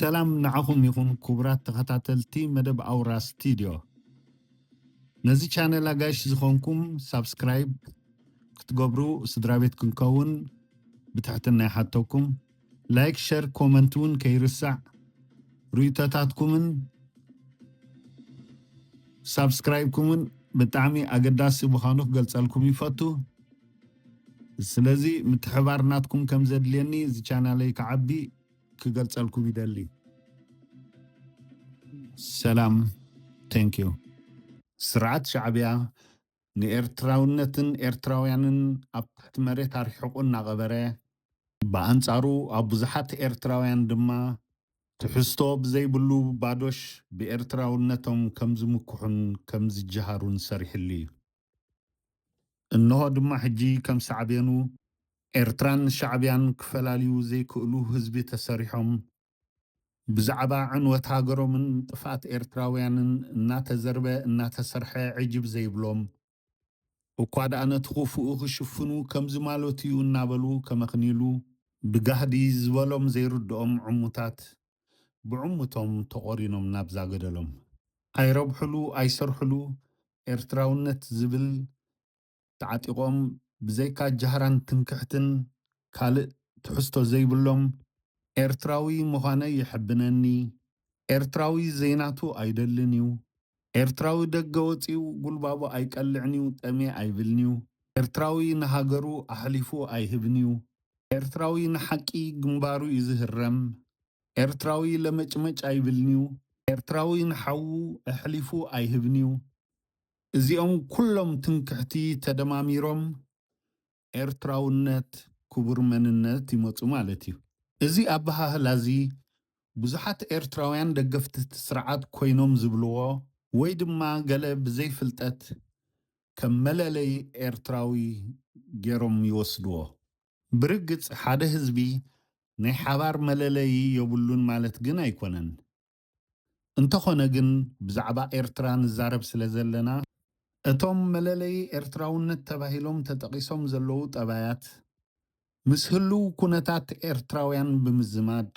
ሰላም ንዓኹም ይኹን ክቡራት ተኸታተልቲ መደብ ኣውራ ስቱድዮ ነዚ ቻነል ኣጋይሽ ዝኾንኩም ሳብስክራይብ ክትገብሩ ስድራ ቤት ክንከውን ብትሕትና ይሓተኩም ላይክ ሸር ኮመንት ውን ከይርሳዕ ርኢቶታትኩምን ሳብስክራይብኩምን ብጣዕሚ ኣገዳሲ ምዃኑ ክገልጸልኩም ይፈቱ ስለዚ ምትሕባር ናትኩም ከም ዘድልየኒ እዚ ቻናለይ ክዓቢ ክገልጸልኩም ይደሊ ሰላም ቴንኪው። ስርዓት ሻዕቢያ ንኤርትራውነትን ኤርትራውያንን ኣብ ትሕቲ መሬት ኣርሒቑ እናቐበረ፣ ብኣንጻሩ ኣብ ብዙሓት ኤርትራውያን ድማ ትሕዝቶ ብዘይብሉ ባዶሽ ብኤርትራውነቶም ከም ዝምክሑን ከም ዝጀሃሩን ሰሪሕሉ እዩ። እንሆ ድማ ሕጂ ከም ሳዕቤኑ ኤርትራን ሻዕብያን ክፈላልዩ ዘይክእሉ ህዝቢ ተሰሪሖም ብዛዕባ ዕንወት ሃገሮምን ጥፍኣት ኤርትራውያንን እናተዘርበ እናተሰርሐ ዕጅብ ዘይብሎም፣ እኳ ድኣ ነቲ ኩፉኡ ክሽፍኑ ከምዚ ማለቱ'ዩ እናበሉ ከመኽንይሉ ብጋህዲ ዝበሎም ዘይርድኦም ዕሙታት ብዕሙቶም ተቖሪኖም ናብዛ ገደሎም። ኣይረብሑሉ ኣይሰርሑሉ ኤርትራውነት ዝብል ተዓጢቖም ብዘይካ ጃህራን ትምክሕትን ካልእ ትሕዝቶ ዘይብሎም ኤርትራዊ ምዃነይ የሐብነኒ፣ ኤርትራዊ ዘይናቱ ኣይደልን'ዩ፣ ኤርትራዊ ደገ ወጺኡ ጉልባቡ ኣይቀልዕን'ዩ ጠምየ ኣይብልን'ዩ፣ ኤርትራዊ ንሃገሩ ኣሕሊፉ ኣይህብን'ዩ፣ ኤርትራዊ ንሓቂ ግንባሩ'ዩ ዝህረም፣ ኤርትራዊ ለመጭመጭ ኣይብልን'ዩ፣ ኤርትራዊ ንሓዉ ኣሕሊፉ ኣይህብን'ዩ፣ እዚኦም ኩሎም ትምክሕቲ ተደማሚሮም ኤርትራውነት ክቡር መንነት ይመጹ ማለት እዩ። እዚ ኣበሃህላ እዚ ብዙሓት ኤርትራውያን ደገፍቲ እቲ ስርዓት ኮይኖም ዝብልዎ ወይ ድማ ገለ ብዘይ ፍልጠት ከም መለለዪ ኤርትራዊ ገይሮም ይወስድዎ። ብርግጽ ሓደ ህዝቢ ናይ ሓባር መለለዪ የብሉን ማለት ግን ኣይኮነን። እንተኾነ ግን ብዛዕባ ኤርትራ ንዛረብ ስለዘለና፣ እቶም መለለዪ ኤርትራውነት ተባሂሎም ተጠቒሶም ዘለዉ ጠባያት ምስ ህሉው ኩነታት ኤርትራውያን ብምዝማድ፣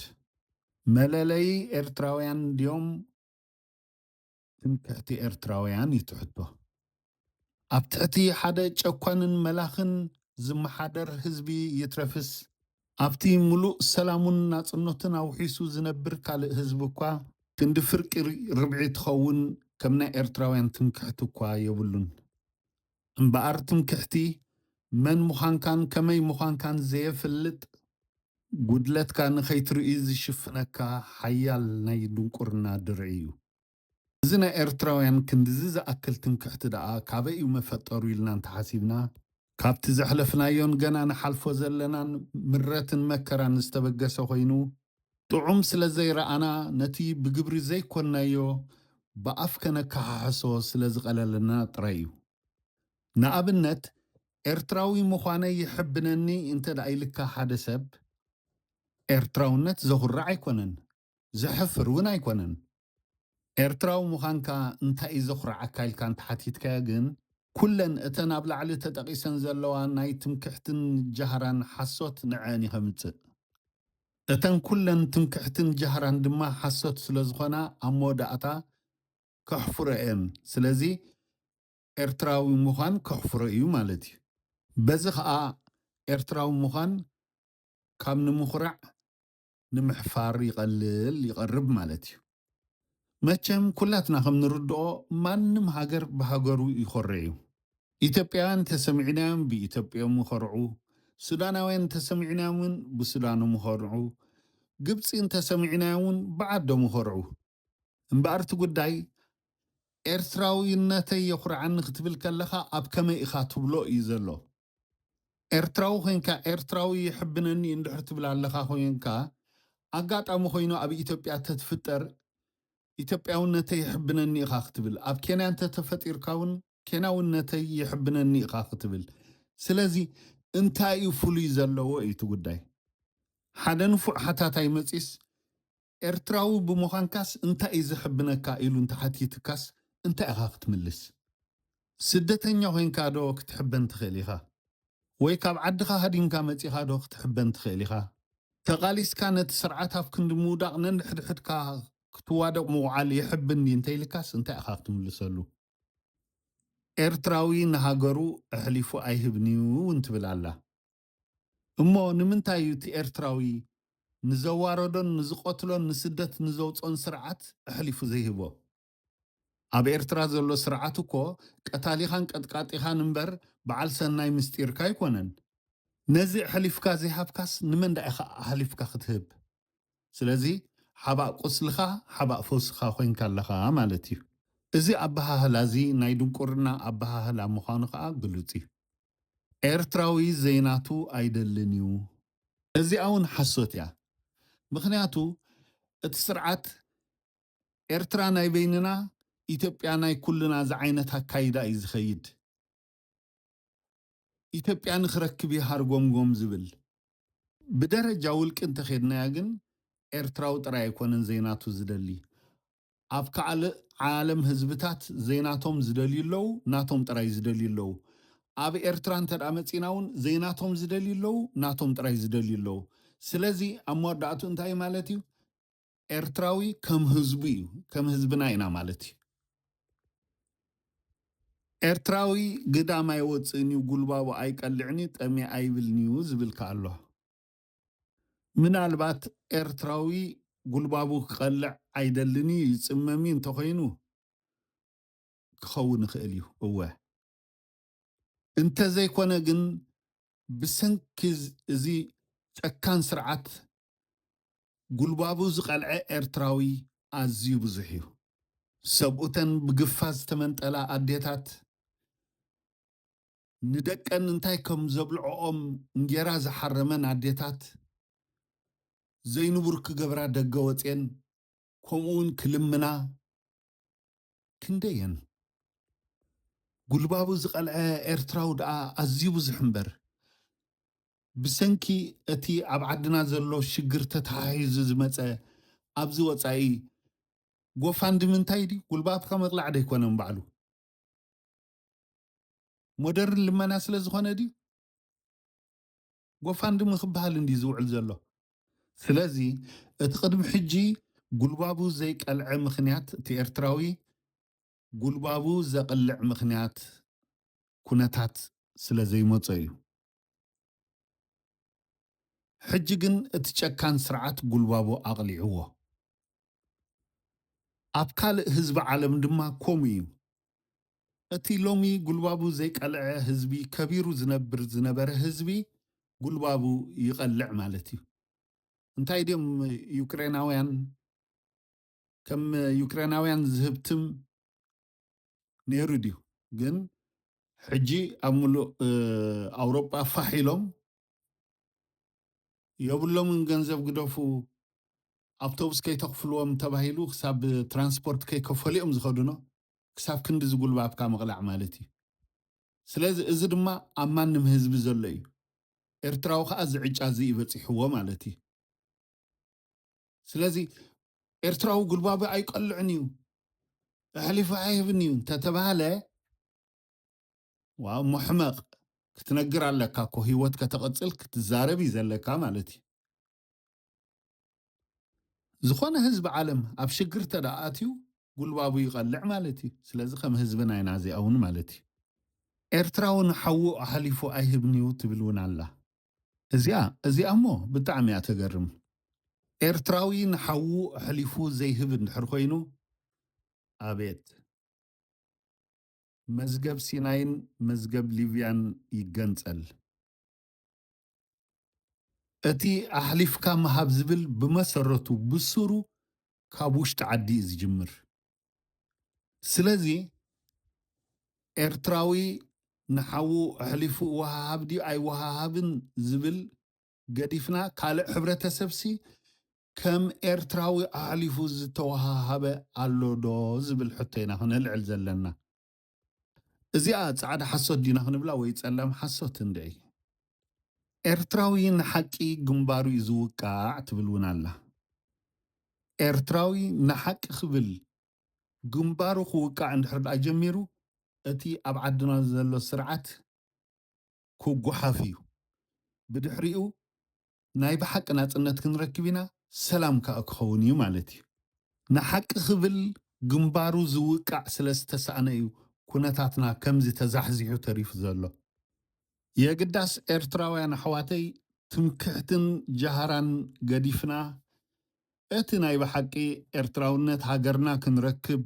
መለለዪ ኤርትራውያን ድዮም ትምክሕቲ ኤርትራውያን እዩ ትሕቶ። ኣብ ትሕቲ ሓደ ጨኳንን መላኽን ዝመሓደር ህዝቢ ይትረፍስ ኣብቲ ምሉእ ሰላሙን ናጽነቱን ኣውሒሱ ዝነብር ካልእ ህዝቢ እኳ ክንዲ ፍርቂ ርብዒ ትኸውን ከም ናይ ኤርትራውያን ትምክሕቲ እኳ የብሉን። እምበኣር ትምክሕቲ መን ምዃንካን ከመይ ምዃንካን ዘየፍልጥ ጉድለትካ ንኸይትርእይ ዝሽፍነካ ሓያል ናይ ድንቁርና ድርዒ እዩ። እዚ ናይ ኤርትራውያን ክንድዚ ዝኣክል ትምክሕቲ ደኣ ካበይ እዩ መፈጠሩ ኢልና እንተሓሲብና፣ ካብቲ ዘሕለፍናዮን ገና ንሓልፎ ዘለናን ምረትን መከራን ዝተበገሰ ኮይኑ፣ ጥዑም ስለ ዘይረኣና ነቲ ብግብሪ ዘይኮንናዮ ብኣፍ ከነከሓሕሶ ስለ ዝቐለለና ጥራይ እዩ። ንኣብነት ኤርትራዊ ምዃነይ የሐብነኒ እንተድኣ ኢልካ ሓደ ሰብ፣ ኤርትራውነት ዘኹርዕ ኣይኮነን። ዘሕፍር ውን ኣይኮነን ኤርትራዊ ምዃንካ እንታይ እዩ ዘኹርዓካ ኢልካ እንተሓቲትካዮ ግን ኩለን እተን ኣብ ላዕሊ ተጠቒሰን ዘለዋ ናይ ትምክሕትን ጃህራን ሓሶት ንዐኣን እዩ ከምጽእ እተን ኩለን ትምክሕትን ጃህራን ድማ ሓሶት ስለዝኾና ኣብ መወዳእታ ከሕፍሮ እየን ስለዚ ኤርትራዊ ምዃን ከሕፍሮ እዩ ማለት እዩ በዚ ኸኣ ኤርትራዊ ምዃን ካብ ንምኹራዕ ንምሕፋር ይቐልል ይቐርብ ማለት እዩ። መቸም ኩላትና ከም ንርድኦ ማንም ሃገር ብሃገሩ ይኾሬ እዩ። ኢትዮጵያውያን እንተሰሚዕናዮም ብኢትዮጵዮም ይኾርዑ፣ ሱዳናውያን እንተሰሚዕናዮም እውን ብሱዳኖም ይኾርዑ፣ ግብጺ እንተሰሚዕናዮም እውን ብዓዶም ይኾርዑ። እምበኣር እቲ ጉዳይ ኤርትራዊነተይ የኹርዓኒ ክትብል ከለኻ ኣብ ከመይ ኢኻ ትብሎ እዩ ዘሎ። ኤርትራዊ ኮንካ ኤርትራዊ የሕብነኒ እንድሕር ትብል ኣለኻ ኮንካ ኣጋጣሚ ኮይኑ ኣብ ኢትዮጵያ ተትፍጠር ኢትዮጵያውነተይ የሕብነኒ ኢኻ ክትብል ኣብ ኬንያ እንተ ተፈጢርካ እውን ኬንያውነተይ የሕብነኒ ኢኻ ክትብል ስለዚ እንታይ እዩ ፍሉይ ዘለዎ እዩ እቲ ጉዳይ ሓደ ንፉዕ ሓታታይ መጺስ ኤርትራዊ ብምዃንካስ እንታይ እዩ ዘሕብነካ ኢሉ እንተሓቲትካስ እንታይ ኢኻ ክትምልስ? ስደተኛ ኮይንካ ዶ ክትሕበን ትኽእል ኢኻ? ወይ ካብ ዓድኻ ሃዲምካ መጺኻ ዶ ክትሕበን ትኽእል ኢኻ? ተቓሊስካ ነቲ ስርዓት ኣብ ክንዲ ምውዳቕ ነንሕድሕድካ ክትዋደቕ ምውዓል የሕብን ድዩ እንተኢልካስ እንታይ ኢኻ ክትምልሰሉ? ኤርትራዊ ንሃገሩ ኣሕሊፉ ኣይህብን'ዩ እውን ትብል ኣላ። እሞ ንምንታይ እዩ እቲ ኤርትራዊ ንዘዋረዶን ንዝቐትሎን ንስደት ንዘውጽኦን ስርዓት ኣሕሊፉ ዘይህቦ? ኣብ ኤርትራ ዘሎ ስርዓት እኮ ቀታሊኻን ቀጥቃጢኻን እምበር በዓል ሰናይ ምስጢርካ ኣይኮነን። ነዚ ኣሕሊፍካ ዘይሃብካስ ንመን ደኣ ኢኻ ኣሕሊፍካ ክትህብ? ስለዚ ሓባእ ቁስልኻ ሓባእ ፈውስኻ ኮይንካ ኣለኻ ማለት እዩ። እዚ ኣበሃህላ እዚ ናይ ድንቁርና ኣበሃህላ ምዃኑ ከኣ ግሉጽ እዩ። ኤርትራዊ ዘይናቱ ኣይደልን እዩ እዚኣ ውን ሓሶት እያ ምኽንያቱ እቲ ስርዓት ኤርትራ ናይ በይንና ኢትዮጵያ ናይ ኩልና ዝዓይነት ኣካይዳ እዩ ዝኸይድ ኢትዮጵያ ንኽረክብ እዩ ሃርጎምጎም ዝብል ብደረጃ ውልቂ እንተኼድናያ ግን ኤርትራዊ ጥራይ ኣይኮነን ዘይናቱ ዝደሊ ኣብ ካኣልእ ዓለም ህዝብታት ዘይናቶም ዝደልዩ ኣለው ናቶም ጥራይ ዝደልዩ ኣለው ኣብ ኤርትራ እንተድኣ መጺና ውን ዘይናቶም ዝደልዩ ኣለው ናቶም ጥራይ ዝደልዩ ኣለው ስለዚ ኣብ መወዳእትኡ እንታይ እዩ ማለት እዩ ኤርትራዊ ከም ህዝቡ እዩ ከም ህዝብና ኢና ማለት እዩ። ኤርትራዊ ግዳም ኣይወጽእን እዩ ጉልባቡ ኣይቀልዕን እዩ ጠምየ ኣይብልን እዩ ዝብል ከኣ ኣሎ። ምናልባት ኤርትራዊ ጉልባቡ ክቐልዕ ኣይደልን እዩ ይጽመም እዩ እንተኾይኑ ክኸውን ይኽእል እዩ እወ እንተዘይኮነ ግን ብሰንኪ እዚ ጨካን ስርዓት ጉልባቡ ዝቐልዐ ኤርትራዊ ኣዝዩ ብዙሕ እዩ። ሰብኡተን ብግፋ ዝተመንጠላ ኣዴታት ንደቀን እንታይ ከም ዘብልዕኦም እንጌራ ዝሓረመን ኣዴታት፣ ዘይንቡር ክገብራ ደገ ወጼን ከምኡ'ውን ክልምና ክንደይ'የን። ጉልባቡ ዝቐልዐ ኤርትራዊ ደኣ ኣዝዩ ብዙሕ እምበር፣ ብሰንኪ እቲ ኣብ ዓድና ዘሎ ሽግር ተተሓሒዙ ዝመጸ ኣብዚ ወጻኢ ጎፋንድሚ እንታይ ድዩ ጉልባብካ ምቕላዕ ደይኮነን ባዕሉ። ሞደርን ልመና ስለ ዝኾነ ድዩ ጎፋንድሚ ክበሃል እንዲ ዝውዕል ዘሎ ስለዚ እቲ ቅድሚ ሕጂ ጉልባቡ ዘይቀልዐ ምክንያት እቲ ኤርትራዊ ጉልባቡ ዘቕልዕ ምክንያት ኩነታት ስለ ዘይመጾ እዩ ሕጂ ግን እቲ ጨካን ስርዓት ጉልባቡ ኣቕሊዕዎ። ኣብ ካልእ ህዝቢ ዓለም ድማ ኮምኡ እዩ። እቲ ሎሚ ጉልባቡ ዘይቀልዐ ህዝቢ ከቢሩ ዝነብር ዝነበረ ህዝቢ ጉልባቡ ይቐልዕ ማለት እዩ። እንታይ ድዮም ዩክሬናውያን ከም ዩክሬናውያን ዝህብትም ነይሩ ድዩ ግን ሕጂ ኣብ ምሉእ ኣውሮጳ ፋሕ ኢሎም የብሎምን ገንዘብ ግደፉ ኣብቶብስ ከይተኽፍልዎም ተባሂሉ ክሳብ ትራንስፖርት ከይከፈሉ እዮም ዝኸዱኖ ክሳብ ክንዲ ዝጉልባብካ ምቕላዕ ማለት እዩ ስለዚ እዚ ድማ ኣብ ማንም ህዝቢ ዘሎ እዩ ኤርትራዊ ከዓ ዝዕጫ እዚ ይበፂሕዎ ማለት እዩ ስለዚ ኤርትራዊ ጉልባቢ ኣይቀልዕን እዩ ኣሕሊፉ ኣይህብን እዩ እንተተባህለ ዋው መሕመቕ ክትነግር ኣለካ እኮ ህይወት ከተቐፅል ክትዛረብ እዩ ዘለካ ማለት እዩ ዝኾነ ህዝቢ ዓለም ኣብ ሽግር ተደኣትዩ ጉልባቡ ይቐልዕ ማለት እዩ ስለዚ ከም ህዝቢ ናይና እዚኣ እውን ማለት እዩ ኤርትራውን ሓዉ ኣሕሊፉ ኣይህብን እዩ ትብል እውን ኣላ እዚኣ እዚኣ እሞ ብጣዕሚ እያ ተገርም ኤርትራዊ ንሓዉ ኣሕሊፉ ዘይህብ እንድሕር ኮይኑ ኣቤት መዝገብ ሲናይን መዝገብ ሊብያን ይገንጸል እቲ ኣሕሊፍካ ምሃብ ዝብል ብመሰረቱ ብሱሩ ካብ ውሽጢ ዓዲ እዩ ዝጅምር ስለዚ ኤርትራዊ ንሓዉ ኣሕሊፉ እወሃሃብ ድዩ ኣይወሃሃብን ዝብል ገዲፍና ካልእ ሕብረተሰብሲ ከም ኤርትራዊ ኣሕሊፉ ዝተወሃሃበ ኣሎ ዶ ዝብል ሕቶ ኢና ክነልዕል ዘለና። እዚኣ ጻዕዳ ሓሶት ዲና ክንብላ ወይ ጸላም ሓሶት እንድዒ ኤርትራዊ ንሓቂ ግንባሩ እዩ ዝውቃዕ ትብል እውን ኣላ ኤርትራዊ ንሓቂ ክብል ግንባሩ ክውቃዕ እንድሕር ደኣ ጀሚሩ እቲ ኣብ ዓድና ዘሎ ስርዓት ክጎሓፍ እዩ ብድሕሪኡ ናይ ብሓቂ ናጽነት ክንረክብ ኢና ሰላም ክኣ ክኸውን እዩ ማለት እዩ ንሓቂ ክብል ግንባሩ ዝውቃዕ ስለ ዝተሳእነ እዩ ኩነታትና ከምዚ ተዛሕዚሑ ተሪፉ ዘሎ የግዳስ ኤርትራውያን ኣሕዋተይ ትምክሕትን ጃህራን ገዲፍና እቲ ናይ ብሓቂ ኤርትራውነት ሃገርና ክንረክብ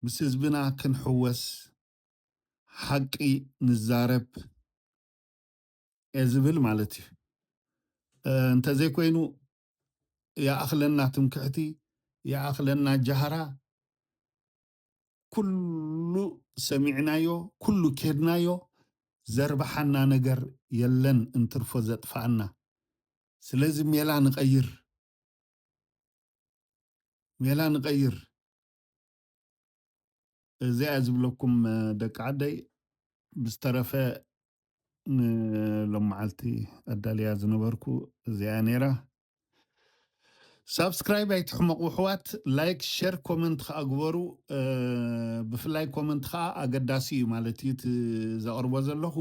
ምስ ህዝብና ክንሕወስ ሓቂ ንዛረብ እየ ዝብል ማለት እዩ። እንተዘይኮይኑ ይኣኽለና ትምክሕቲ፣ ይኣኽለና ጃህራ፣ ኩሉ ሰሚዕናዮ፣ ኩሉ ኬድናዮ ዘርብሓና ነገር የለን እንትርፎ ዘጥፍኣና። ስለዚ ሜላ ንቐይር፣ ሜላ ንቐይር። እዚኣ እየ ዝብለኩም ደቂ ዓደይ ብዝተረፈ ንሎመዓልቲ ኣዳልያ ዝነበርኩ እዚኣ ነይራ ሳብስክራይብ ኣይትሕመቑ ኣሕዋት ላይክ ሸር ኮመንት ከዓ ግበሩ ብፍላይ ኮመንት ከዓ ኣገዳሲ እዩ ማለት እዩ እቲ ዘቕርቦ ዘለኹ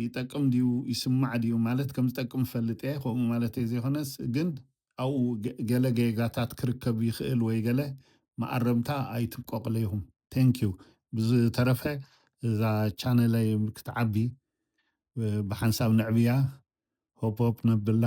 ይጠቅም ድዩ ይስማዕ ድዩ ማለት ከም ዝጠቅም እፈልጥ እየ ከምኡ ማለተይ ዘይኮነስ ግን ኣብኡ ገለ ጌጋታት ክርከብ ይኽእል ወይ ገለ መኣረምታ ኣይትብቀቕለይኹም ቴንኪዩ ብዝተረፈ እዛ ቻነለይ ክትዓቢ ብሓንሳብ ነዕብያ ሆፕ ሆፕ ነብላ